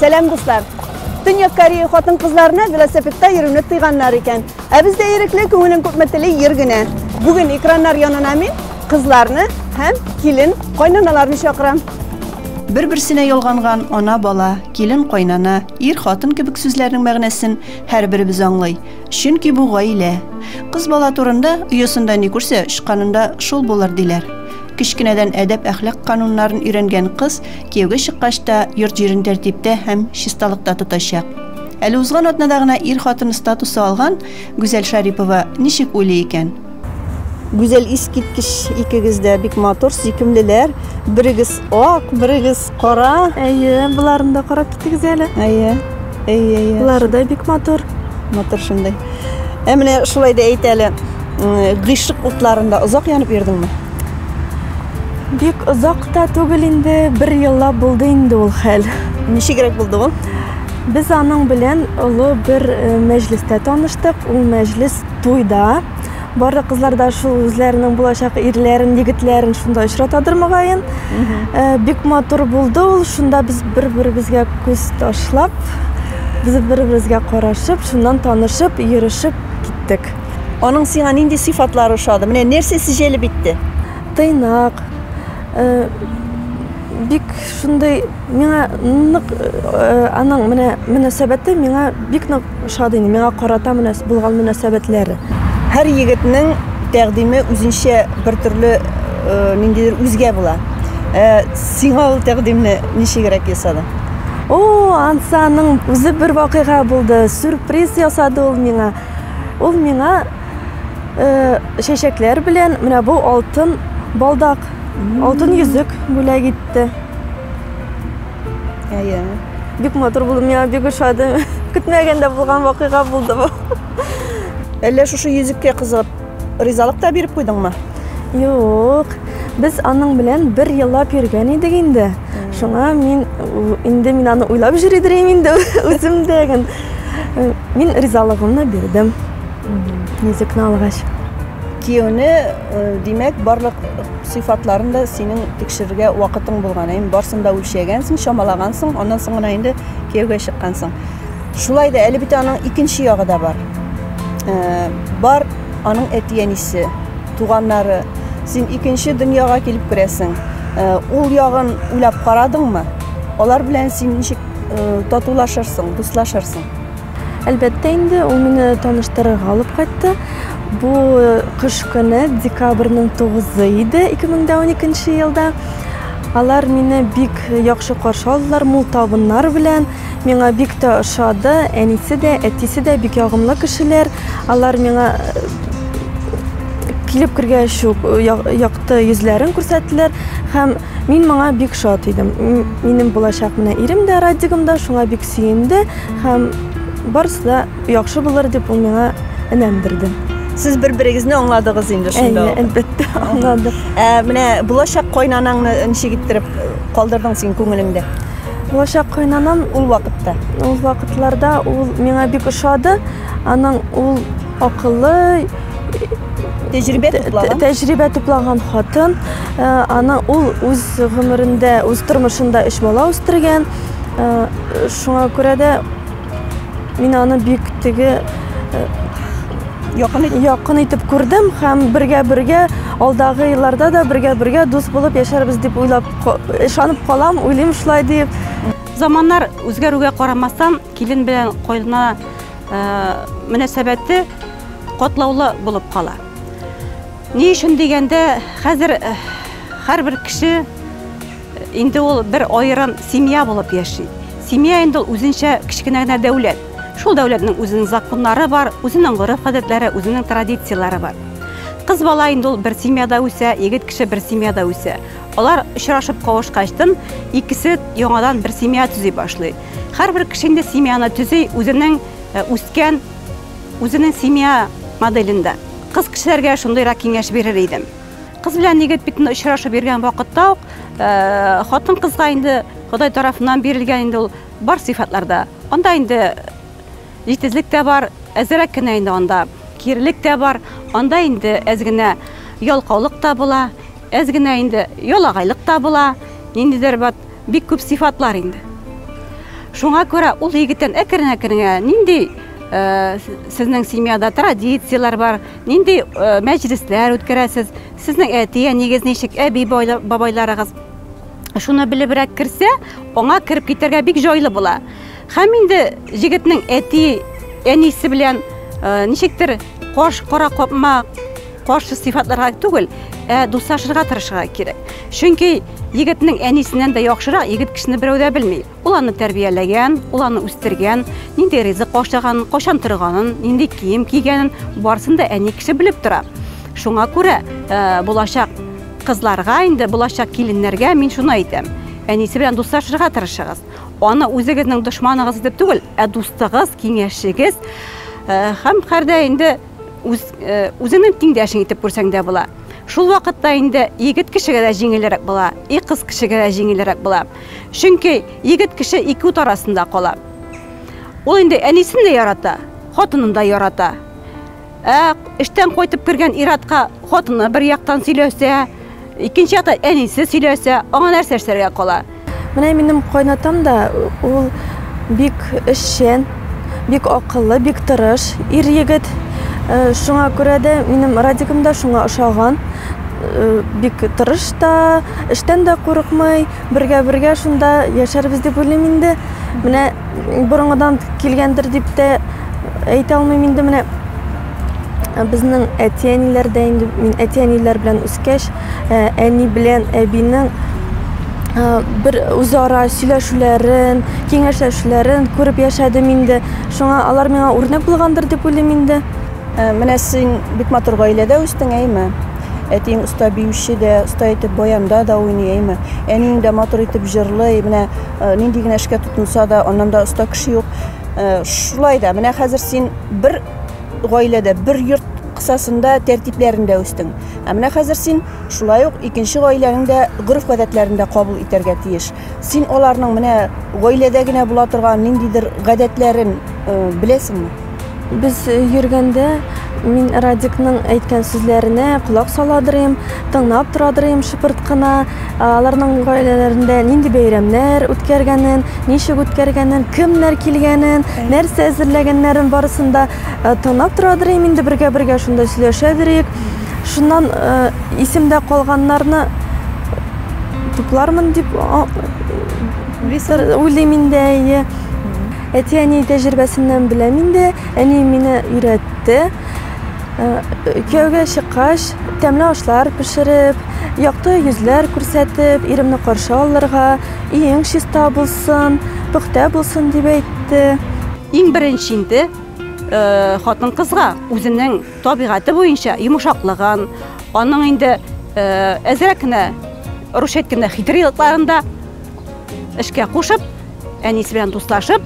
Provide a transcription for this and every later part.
Сәлам дуслар! Төньяк Корея хатын-кызларына велосипедта йөрүне тыйганнар икән. Ә бездә ирекле күңелен күпме тели йөр генә. Бүген экраннар янына мин кызларны һәм килен кайнаналарны чакырам. Бер-берсенә ялганган ана бала, килен кайнана, ир хатын кебек сүзләрнең мәгънәсен һәрберебез аңлый. Чөнки бу гаилә. Кыз бала турында оясында ни күрсә, очканында шул булыр диләр. Кечкенәдән әдәп-әхлак кануннарын өйрәнгән кыз Кияүгә чыккач та йорт җирен тәртиптә һәм чисталыкта тотачак. Әле узган атнада гына ир-хатын статусы алган Гүзәл Шарипова ничек уйлый икән? Гүзәл, искиткеч икегез дә бик матур, сөйкемлеләр. Берегез ак, берегез кара. Әйе, боларны да карап китегез әле. Әйе. Лары да бик матур. Матур шундый. Ә менә шулай да әйт әле, гыйшык утларында озак янып йөрдеңме? Бик озак та түгел инде, бер еллап булды инде ул хәл. Ничегрәк булды ул? Без аның белән олы бер мәҗлестә таныштык. Ул мәҗлес туйда Барлык кызлар да шул үзләренең булачак ирләрен, егетләрен шунда очратадыр мөгаен. Э, бик матур булды ул. Шунда без бер-беребезгә күз ташлап, без бер-беребезгә карашып, шуннан танышып, йөрешеп киттек. Аның сиңа нинди сыйфатлары ошады? Менә нәрсәсе җәлеп итте? Тыйнак. Э, бик шундый миңа нык э, аның менә мөнәсәбәте миңа бик нык Ошады инде миңа карата мөнәс булган мөнәсәбәтләре. Һәр егетнең тәкъдиме үзенчә бер төрле э, ниндидер үзгә була. Э, сиңа ул тәкъдимне ничегрәк ясады? О, Ансаның үзе бер вакыйга булды. Сюрприз ясады ул миңа. Ул миңа э, чәчәкләр белән менә бу алтын балдак, алтын йөзек бүләк итте. Әйе. Бик матур булды, миңа бик ошады. Көтмәгәндә булган вакыйга булды бу. Әллә шушы йөзеккә кызыгып, ризалык та биреп куйдыңмы? Юк. Без аның белән бер еллап йөргән идек инде. Шуңа мин инде мин аны уйлап йөри дирим инде үзем дә. Э, мин ризалыгымны бирдем. Йөзекне алгач. Кияүне, э, димәк, барлык Сыйфатларын да синең тикшерергә вакытың булган, әйеме? Барсын да үлчәгәнсең, чамалагансың, аннан соң гына инде кияүгә чыккансың. Шулай да әле бит аның икенче ягы да бар. Э, бар аның әти-әнисе, туганнары. Син икенче дөньяга килеп керәсең. Э, ул ягын уйлап карадыңмы? Алар белән син ничек э, татулашырсың, дуслашырсың? Әлбәттә инде, ул мине таныштырырга алып кайтты. Бу кыш көне, декабрьнең 9-ы иде, 2012 елда. Алар мине бик яхшы каршы алдылар, мул табыннар белән. Миңа бик тә ошады. Әнисе дә, әтисе дә бик ягымлы кешеләр. Алар миңа килеп кергәч үк якты йөзләрен күрсәттеләр һәм мин моңа бик шат идем. Минем булачак менә ирем дә Радигым да шуңа бик Сөенде һәм барысы да яхшы булыр дип ул миңа энәм бирде. Сез бер-берегезне аңладыгыз инде шунда. Әйе, әлбәттә, аңладык. Ә менә булачак кайнанаңны ничек иттереп э, калдырдың син күңелеңдә? Булачак кайнанам ул вакытта. Ул вакытларда ул миңа бик ошады. Аның ул акыллы, тәҗрибә туплаган. Тәҗрибә туплаган хатын. Э, аны ул үз гомерендә, үз тормышында өч бала үстергән. Шуңа күрә дә мин аны бик теге якын итеп, якын итеп күрдем һәм бергә-бергә алдагы елларда да бергә-бергә дус булып яшәрбез дип уйлап ышанып калам, уйлыйм шулай дип. Заманнар үзгәрүгә карамастан, килен белән кайнана э, мөнәсәбәте катлаулы булып кала. Ни өчен дигәндә, хәзер э, һәрбер кеше Инде ул бер аерым семья булып яши. Семья инде ул үзенчә кечкенә генә дәүләт. Шул дәүләтнең үзенең законнары бар, үзенең гореф-гадәтләре, үзенең традицияләре бар. Кыз бала инде ул бер семьяда үсә, егет кеше бер семьяда үсә. Алар очрашып кавышкачтын, икесе яңадан бер семья төзи башлый. Һәрбер кеше инде семьяны төзи үзенең э, үскән, үзенең семья моделендә. Кыз кешеләргә шундыйрак киңәш бирер идем. Кыз белән егет бит очрашып йөргән вакытта ук хатын кызга инде Ходай тарафыннан бирелгән инде ул бар сыйфатлар да. Анда инде җитезлек тә бар, әзерәк кенә инде анда кирелек тә бар, анда инде әз генә ялкаулык та була, әз генә инде ялагайлык та була, ниндидер бат бик күп сыйфатлар инде. Шуңа күрә ул егеттән әкрен-әкрен генә нинди сезнең семьяда традицияләр бар, Нинди мәҗлесләр үткәрәсез? Сезнең әти-әнигез ничек, әби-бабайларыгыз? Шуны белебрәк керсә, аңа кереп китәргә бик җайлы була. Һәм инде җегетнең әти, әнисе белән ничектер каш кара капма каршы сыйфатларга түгел, ә дуслашырга тырышырга кирәк. Чөнки егетнең әнисеннән дә яхшырак егет кешене берәү дә белми. Ул аны тәрбияләгән, ул аны үстергән, нинди ризык ашаган, качан торганын, нинди кием кигәнен, барсын да әни кеше белеп тора. Шуңа күрә э, булачак кызларга инде, булачак киленнәргә мин шуны әйтәм. Әнисе белән дуслашырга тырышыгыз. Аны үзегезнең дошманыгыз дип түгел, ә дустыгыз, киңәшчегез э, һәм кардә инде үз үзеңнең тиңдәшең итеп күрсәң дә була шул вакытта инде егет кешегә дә җиңелрәк була и кыз кешегә дә җиңелрәк була чөнки егет кеше ике ут арасында кала ул инде әнисен дә ярата хатынын да ярата ә эштән кайтып кергән иратка хатыны бер яктан сөйләсә Икенче якта әнисе сөйләсә, аңа нәрсә эшләргә кала? Менә минем кайнатам да, ул бик эшчән, бик акыллы, бик тырыш ир егет. Э, шуңа күрә дә минем Радикым да шуңа ошаган. Э, бик тырыш та, эштән дә курыкмый, бергә-бергә шунда яшәрбез дип уйлыйм инде. Менә борынгыдан килгәндер дип тә әйтә алмыйм инде менә. Ә безнең әти-әниләр дә инде мин әти-әниләр белән үскәч, ә, әни белән әбинең ә, бер үзара сөйләшүләрен, киңәшләшүләрен күреп яшәдем инде. Шуңа алар миңа үрнәк булгандыр дип уйлыйм инде. Ә, Менә син бик матур гаиләдә үстең, әйме? Әтиең оста биюче дә, оста итеп баянда да уйный, әйме? Әниең дә матур итеп җырлый, менә ә, нинди генә эшкә тотынса да, аннан да оста кеше юк. Ә, Шулай да, менә хәзер син бер гаиләдә, бер йорт кысасында, тәртипләрендә үстең. Ә менә хәзер син шулай ук икенче гаиләнең дә гореф-гадәтләрен дә кабул итәргә тиеш. Син аларның менә гаиләдә генә була торган ниндидер гадәтләрен беләсеңме? Без йөргәндә мин Радикның әйткән сүзләренә колак сала дырыйм, тыңлап тора дырыйм шыпырт кына. Аларның гаиләләрендә нинди бәйрәмнәр үткәргәнен, ничек үткәргәнен, кемнәр килгәнен, нәрсә әзерләгәннәрен барысын да тыңлап тора дирем инде бергә-бергә шунда сөйләшә дирек. Шуннан исемдә калганнарны туплармын дип уйлыйм инде, әйе. Әти-әни тәҗрибәсеннән беләм инде. Әни мине өйрәтте. Кияүгә чыккач, тәмле ашлар пешереп, якты йөзләр күрсәтеп, иремне каршы алырга, иең чиста булсын, пөхтә булсын дип әйтте. Иң беренче инде хатын-кызга үзенең табигате буенча йомшаклыгын, аның инде әзрәк кенә, русча әйткәндә, хитрый якларын да эшкә кушып, әнисе белән дуслашып,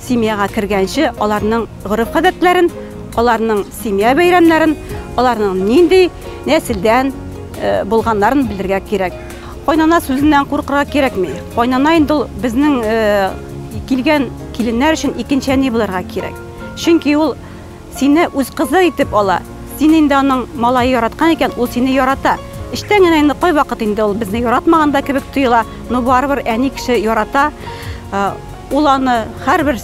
Семьяга кергәнче аларның гореф-гадәтләрен, аларның семья бәйрәмнәрен, аларның нинди нәселдән э, булганнарын белергә кирәк. Кайнана сүзеннән куркырга кирәкми. Кайнана инде ул безнең э, килгән киленнәр өчен икенче әни булырга кирәк. Чөнки ул Сине үз кызы итеп ала. Син инде аның малае яраткан икән, ул сине ярата. Эчтән генә инде кайвакыт инде ул безне яратмаган да кебек тоела, но барыбер әни кеше ярата. Ул аны һәрбер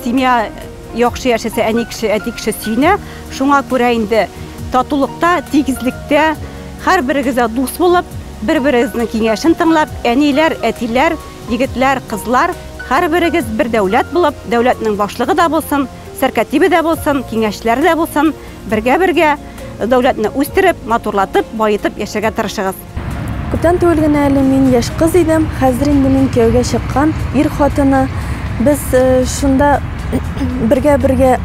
семья яхшы яшәсә, әни кеше, әти кеше сөенә. Шуңа күрә инде татулыкта, тигезлектә, һәрберегезгә дус булып, бер-берегезнең киңәшен тыңлап, әниләр, әтиләр, егетләр, кызлар, һәрберегез бер дәүләт булып, дәүләтнең башлыгы да булсын, сәркәтибе дә булсын, киңәшләре дә булсын, бергә-бергә дәүләтне үстереп, матурлатып, баетып яшәргә тырышыгыз. Күптән түгел генә әле мин яшь кыз идем, хәзер инде мин кияүгә чыккан ир хатыны. Без шунда бергә-бергә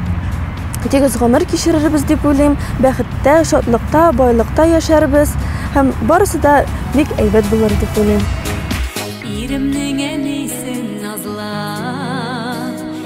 тигез гомер кичерербез дип уйлыйм, бәхеттә, шатлыкта, байлыкта яшәрбез һәм барысы да бик әйбәт булыр дип уйлыйм. Иремнең әнисен назлап.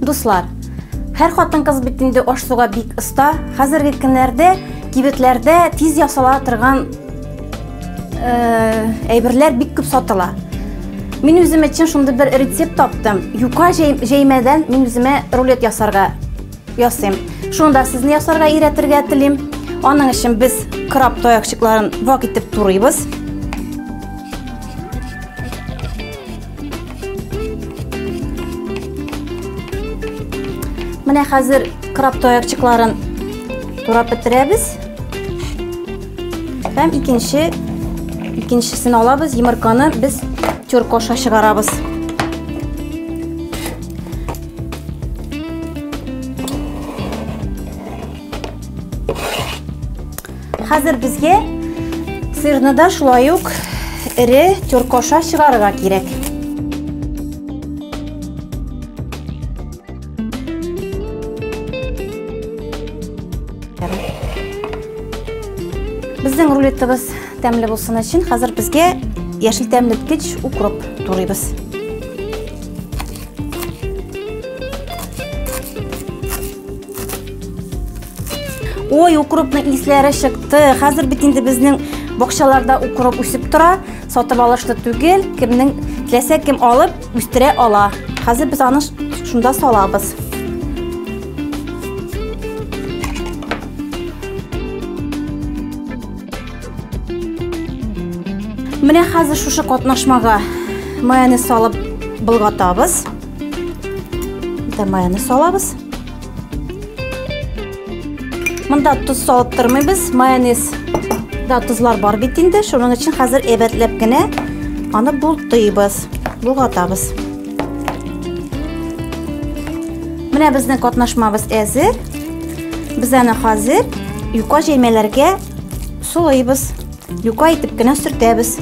Дуслар, һәр хатын кыз бит инде аш суга бик оста. Хәзерге көннәрдә кибетләрдә тиз ясала торган э, әйберләр бик күп сатыла. Мин үзем өчен шундый бер рецепт таптым. Юка җәймәдән мин үземә рулет ясарга Ясыйм. Шуны да сезне ясарга өйрәтергә телим. Аның өчен без краб таякчыкларын вак итеп турыйбыз. Менә хәзер краб таякчыкларын турап бетерәбез. Һәм икенче икенчесен алабыз, йомырканы без тюркоша чыгарабыз. Хәзер безгә сырны да шулай ук эре тюркоша чыгарырга кирәк. Безнең рулетыбыз тәмле булсын өчен хәзер безгә яшел тәмлеткеч укроп турыйбыз. Ой, укропның исләре чыкты. Хәзер бит инде безнең бакчаларда укроп үсеп тора. Сатып алышлы түгел. Кемнең теләсә кем алып үстерә ала. Хәзер без аны шунда салабыз. Менә хәзер шушы катнашмага майонез салып былгатабыз. Дә майонез салабыз. Монда туз салып тормыйбыз, майонез да тузлар бар бит инде, шуның өчен хәзер әйбәтләп кенә аны бултыйбыз, булгатабыз. Менә безнең катнашмабыз әзер. Без аны хәзер юка җәймәләргә Сулыйбыз. Юка итеп кенә сөртәбез.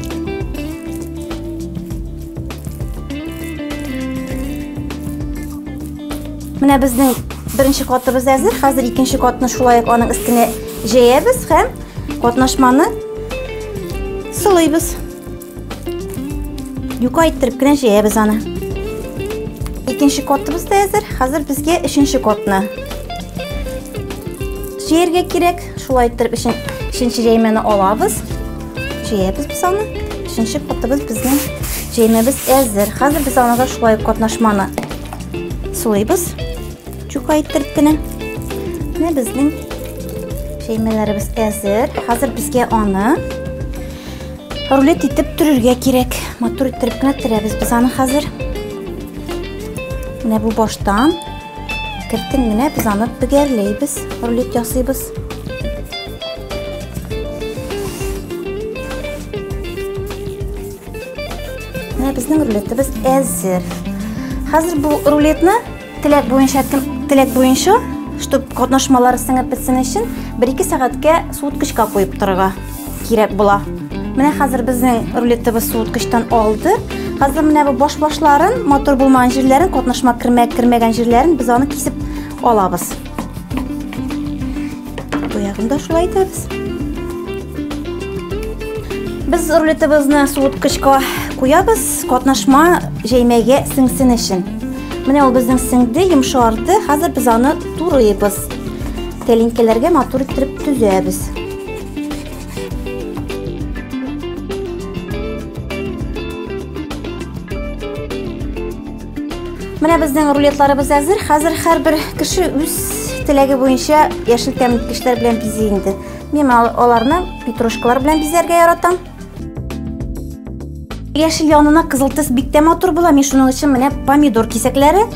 Менә безнең беренче катыбыз әзер. Хәзер икенче катны шулай ук аның өстенә җәябез һәм катнашманы сылыйбыз. Юка иттереп кенә җәябез аны. Икенче котыбыз да әзер. Хәзер безгә өченче котны җәяргә кирәк. Шулай иттереп өченче җәймәне алабыз. Җәябез без аны. Өченче котыбыз безнең җәймәбез әзер. Хәзер без аны да шулай катнашманы сулыйбыз. Чука иттереп кенә. Менә безнең җәймәләребез әзер. Хәзер безгә аны Рулет итеп төрергә кирәк. Матур иттереп кенә төрәбез без аны хәзер. Менә бу баштан кертен генә без аны бөгәрләйбез, рулет ясыйбыз. Менә безнең рулетыбыз әзер. Хәзер бу рулетны Теләк буенча кем теләк буенча, чтобы катнашмалары сеңеп бетсен өчен, 1-2 сәгатькә суыткычка куеп торырга кирәк була. Менә хәзер безнең рулетыбыз суыткычтан алды. Хәзер менә бу баш-башларын, мотор булмаган җирләрен, катнашма кермәгән җирләрен без аны кисеп алабыз. Бу ягын да шулай итәбез. Без рулетыбызны суыткычка куябыз, катнашма җәймәгә сеңсен өчен. Менә ул безнең сеңде, йомшарды. Хәзер без аны турыйбыз. Тәлинкәләргә матур иттереп төзәбез. Менә безнең рулетларыбыз әзер. Хәзер һәрбер кеше үз теләге буенча яшел тәмлекечләр белән бизи инде. Мин аларны петрушкалар белән бизәргә яратам. Яшел янына кызыл төс бик тә матур була. Мин шуның өчен менә помидор кисәкләре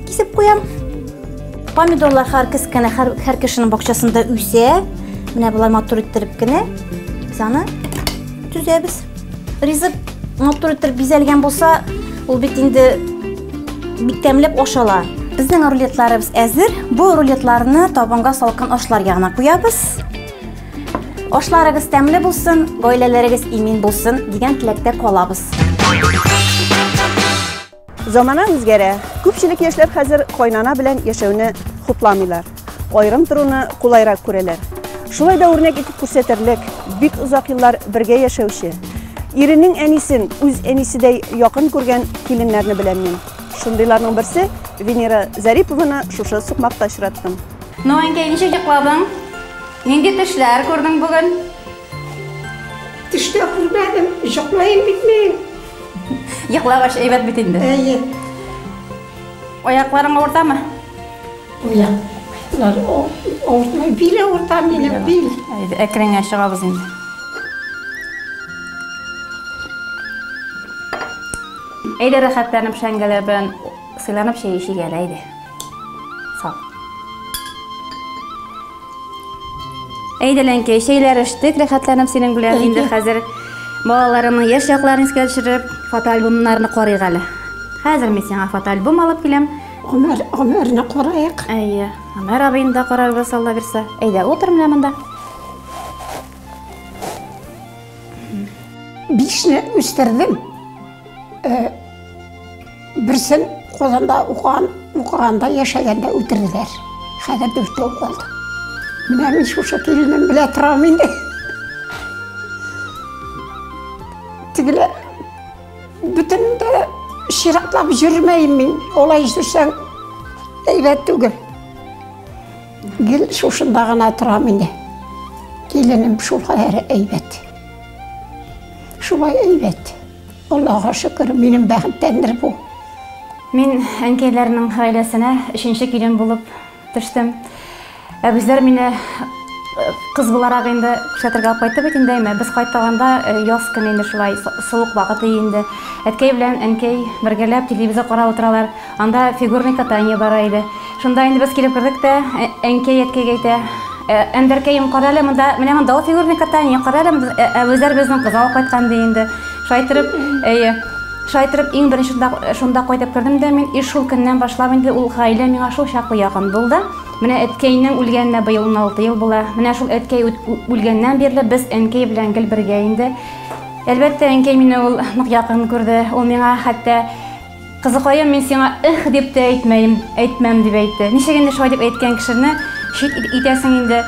кисеп куям. Помидорлар һәр кескәнә һәр, һәр кешенең бакчасында үсә. Менә болай матур иттереп кенә без аны төзәбез. Ризык матур итеп бизәлгән булса, ул бит инде бик тәмләп ашала. Безнең рулетларыбыз әзер. Бу рулетларны табынга салкын ашлар ягына куябыз. Ашларыгыз тәмле булсын, гаиләләрегез имин булсын дигән теләктә калабыз. Замана үзгәрә. Күпчелек яшьләр хәзер кайнана белән яшәүне хупламыйлар. Аерым торуны кулайрак күрәләр. Шулай да үрнәк итеп күрсәтерлек, бик озак еллар бергә яшәүче, иренең әнисен үз әнисидәй якын күргән киленнәрне беләм мин. Шундыйларның берсе Венера Зарипованы шушы сукмакта очраттым. Ну, әнкәй, ничек йокладың? Нинди төшләр күрдең бүген? Төштә күрмәдем, җоклаем бит мин. Йоклагач әйбәт бит инде. Әйе. Аякларың авыртамы? Уяк. Лар авыртмай, бил авырта минем, бил. Әйдә, әкренге чыгабыз инде. Әйдә, рәхәтләнеп шәңгәләр белән сыйланып чәй эчик әле, әйдә. Сау. Әйдә, Ләнкәй, чәйләр эчтек, рәхәтләнеп синең белән. Инде хәзер балаларымның яшь якларын искә төшереп, фотоальбомнарны карыйк әле. Хәзер мин сиңа фотоальбом алып киләм. Гомер, гомерне карыйк. Әйе, Гомер абыйны да карарбыз, Алла бирсә. Әйдә, утыр менә монда. Бишне үстердем. Э, Берсен Казанда укыган, укыганда, яшәгәндә үтерделәр. Хәзер дүртәү калды. Менә мин шушы киленем белә торам инде. Тегеле бөтен дә чиратлап йөрмәйм мин. Олай йөрсәң әйбәт түгел. Гел шушында гына торам инде. Киленем шул хәзер әйбәт. Шулай әйбәт. Аллага шөкер, минем бәхеттәндер бу. Мин әнкәйләрнең гаиләсенә өченче килен булып төштем. Ә безләр мине э, кыз буларак инде күрсәтергә алып кайтты бит инде әйме. Без кайтаганда э, яз көне инде шулай суык вакыты инде. Әткәй белән әнкәй бергәләп телевизор карап утыралар. Анда фигурный катание бара иде. Шунда инде без килеп кердек тә, әнкәй әткәйгә әйтә, Әндәркәем, кара әле монда, менә монда ул фигурный катание, кара әле монда, Әбүзәр безнең кызга ук кайткан ди инде. Шулай итеп, әйе, шулай итеп иң беренче шунда, шунда кайтып кердем дә мин, и шул көннән башлап инде ул гаилә миңа шул чаклы якын булды. Менә әткәйнең үлгәненә быел уналты ел була. Менә шул әткәй үлгәннән бирле без әнкәй белән гел бергә инде. Әлбәттә, әнкәй мине ул нык якын күрде, ул миңа хәтта Кызыкаем, мин сиңа эх дип тә әйтмәем, әйтмәм, дип әйтте. Ничек инде шулай дип әйткән кешене чит итәсең инде.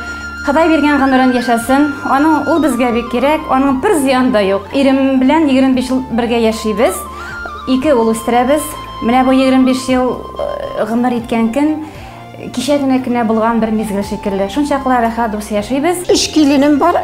Ходай биргән гомерен яшәсен. Аның ул безгә бик кирәк, аның бер зыяны да юк. Ирем белән 25 ел бергә яшибез, ике ул үстерәбез. Менә бу 25 ел гомер иткән көн кичә генә кенә булган бер мизгел шикелле. Шунчаклы рәхәт дус яшибез. Өч киленем бар.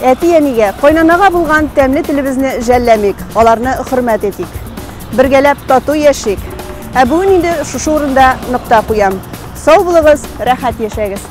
Әти-әнигә, кайнанага булган тәмле телебезне жәлләмик, аларны хөрмәт итик. Бергәләп тату яшик. Ә бүген инде шушы урында нокта куям. Сау булыгыз, рәхәт яшәгез.